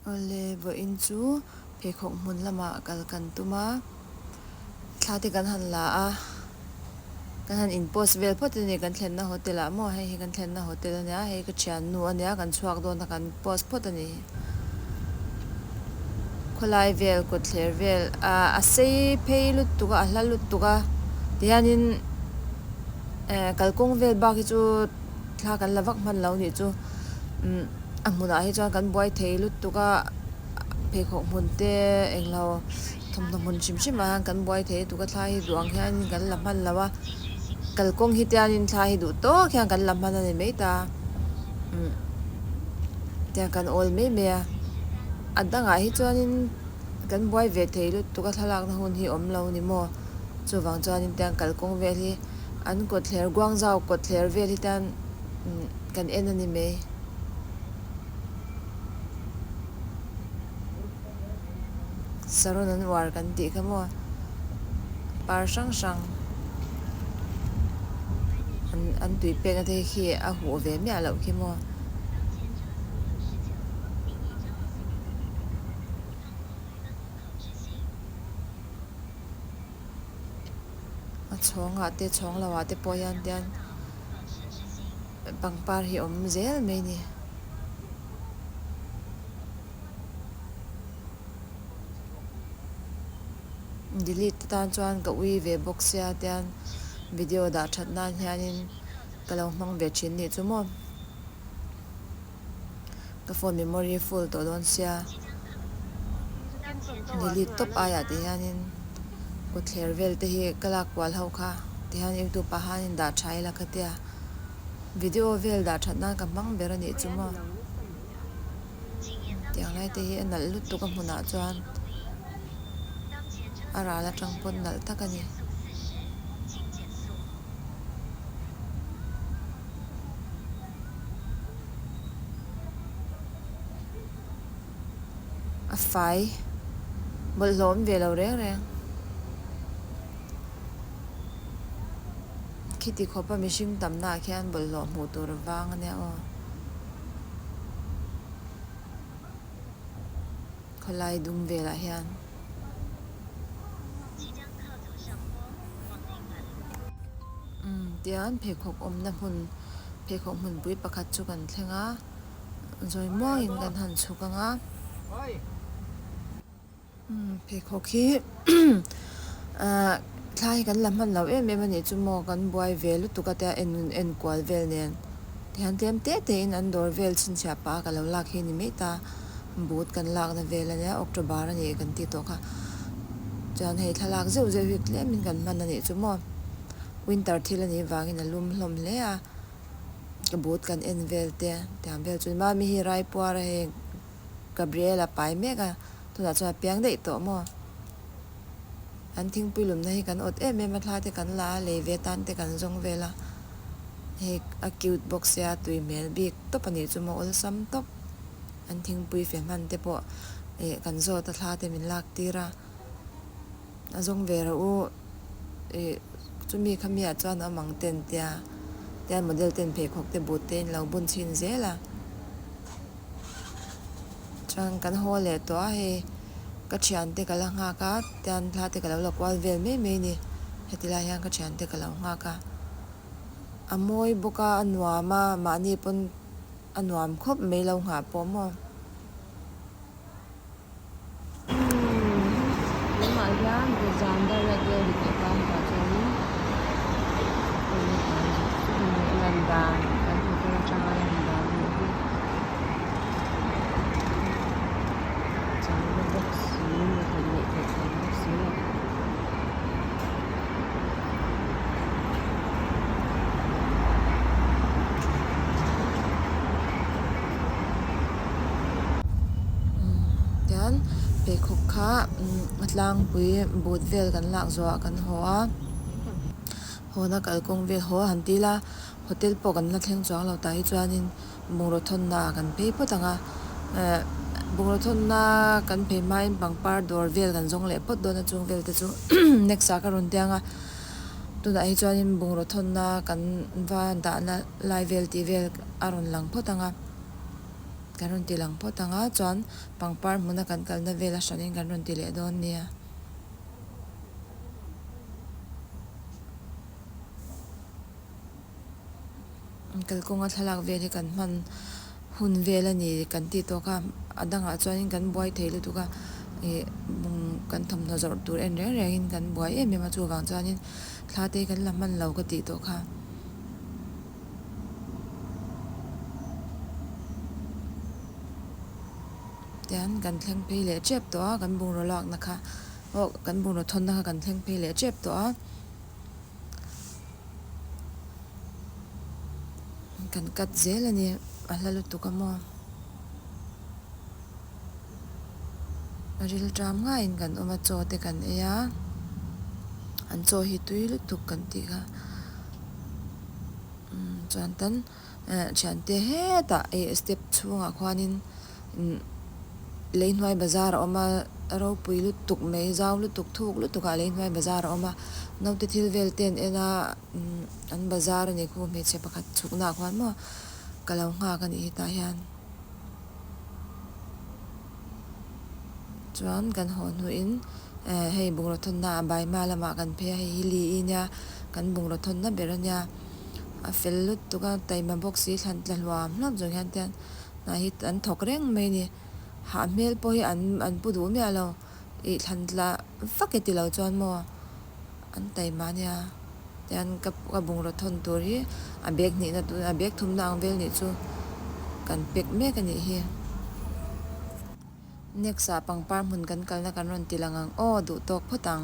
Awle, vawiin chu pheikhawk hmun lamah kal kan tum a, thla te kan han la a, kan han inpost vel phawt a ni, kan thlenna hotel ah maw, hei hi kan thlenna hotel a nia, hei ka thiannu a nia, kan chhuak dawn a, kan post phawt a ni. Khawlai vel, kutthler vel ah a sei phei lut tuk a, a hla lut tuk a, tihianin kalkawng vel bak hi chu. thla kan la vak hman lo nih chu umm a hmunah hi chuan kan buai thei lutuk a pheikhawk hmun te englo thawmhnaw hmun hrim hrim ah hian kan buai thei lutuk a thlai hi duh ang hian in kan la hman lo a kalkawng hi tian in thlai hi duh tawk hian kan la hman a ni mai ta umm tiang kan awl mai mai a a dang ah hi chuan in kan buai ve thei lutuk a thlalak na hun hi awm lo ni maw chuvang chuan in tiang kalkawng vel hi-- an kawtthler Guangzhou kawtthler vel hi tan kan en a ni mai. Saron an uar kan tih kha maw? Par hrang hrang an tui pekna te hi khi a huh ve miah loh khi maw? a chhawngah te chhawng lo ah te pawh hian tian pangpar hi awm zel mai ni. Delete te tan chuan ka ui ve bawk sia tian video dah that nan hian in ka lo hmang ve thin nih chu maw. ka phone memory full tawh dawn sia delete tawp aiah tih hianin kawtthler vel te hi ka lak kual ho kha tih hian youtube ah hian dah tha ila ka tia video vel dah that nan ka hmang ber anih chu maw tiang lai te hi a nalh lut tuk a hmun ah chuan a ral atang pawt nalh tak ani a fai bawlh hlawm ve lo reng reng. Khiti khawpa mihring tam na ah khian bawlh hlawh hmuh tur vang ania aw. Khawlai dung vel ah hian. Tian pheikhawk awmna hmun pheikhawk hmunpui pakhat chu kan thleng a zawi muangin kan han chhuk ang a pheikhawk hi ah thlai hi kan la hman lo em em a nih chu maw kan buai ve lutuk a tia en kual vel nen. Thiantiam teh teh in an dawr vel chhinchhiah pah a ka lo lak hi ni mai ta, but kan lakna vel ania October a ni kan ti tawh kha chuan hei thlalak zeuh zeuh hi tlem in kan hman a nih chu maw, winter thil a nih vangin a lum hlawm hle a, ka but kan en vel te tiang vel chu mami hi raipuar a heng Gabriel a pai mek a tunah chuan a piang daih tawh maw. an thingpui lawmna hi kan awt em em a thlate kan la a lei ve tan te kan zawng vel a hei a cute bawk se a tui hmel bik tawp a nih chu maw awlsam tawp an thingpui fe hman te pawh eh kan zawt a thla te min lak tir a a zawng ve ro u eh chumi kha mi ah chuan awm ang ten tia tian model ten pheikhawk te but te in lo bun chhin zel a chuan kan haw leh tawh a hei. ka thian te ka la nghak a tian hla te ka lo la kual vel mai mai ni heti lai hian ka thian te ka lo nghak a a mawi bawk a a nuam a mahni pawn a nuam khawp mai lo nghah pawh maw tunah hian zan dar a tel dik leh tan tah chuanin lan dan kan hmu tel atanga lan dan a ni hi. changna bawk si a thawhleh tawh chhuak bawk si a. Tichuan pheikhawk kha a tlangpui but vel kan lak zawh ah kan haw a, haw na kalkawng vel haw a han ti ila hotel pawh kan la thleng chuang lo tah hi chuan in. bungraw thawnna a kan phei phawt ang a, eh bungraw thawnna kan phei hmain pangpar dawr vel kan zawng leh phawt dawn a chung vel te chu next ah ka rawn tiang a, tunah hi chuanin bungraw thawnna kan va dahna lai vel tih vel a rawn lang phawt ang a, kan rawn ti lang phawt ang a, chuan pangpar hmuna kan kalna vel a hranin kan rawn ti leh dawn nia. Kalkawnga thlalak vel hi kan hman hun vel a ni kan tih tawk a, a dangah chuan kan buai thei lutuk a, ih kan thawmhnaw zawrh tur en reng reng in kan buai em em a, chuvang chuan in thla te hi kan la hman lo ka tih tawh kha. Tian kan thleng phei leh tep tawh a, kan bungraw lakna kha, oh kan bungraw thawnna kha kan thleng phei leh tep tawh a. kan cut zel a ni a hla lutuk a maw a ril tram ngaiin in kan awm a chaw te kan ei a an chaw hi tui lutuk kan tih kha umm chuan tan-- ehh thiante hetah ehh step chhungah khuanin imm leihnuai bazar a awm a ropui lutuk mai zau lutuk thuk lutukah leihnuai bazar a awm a naute thil vel ten en a imm an bazar a nih khawm hmeichhe pakhat chhuknaah khuan maw ka lo nghak a nih hetah hian chuan kan haw hnuin ehh hei bungraw thawnna a baima lamah kan phei a hei hi li i nia kan bungraw thawnna ber a nia. a fel lut tuk a, taima bawk si thlan tla hluam hluam zawng hian te anah hi an thawk reng mai a ni, hah hmel pawh hi an pu duh miah lo, ih thlan tla vak i ti lo chuan maw an taima a nia, tichuan ka bungraw thawn tur hi a bag hnihna tur a bag thumna ang vel nih chu kan pack mek a nih hi. Next ah pangpar hmun kan kalna kan rawn ti lang ang aw, duh tawk phawt ang.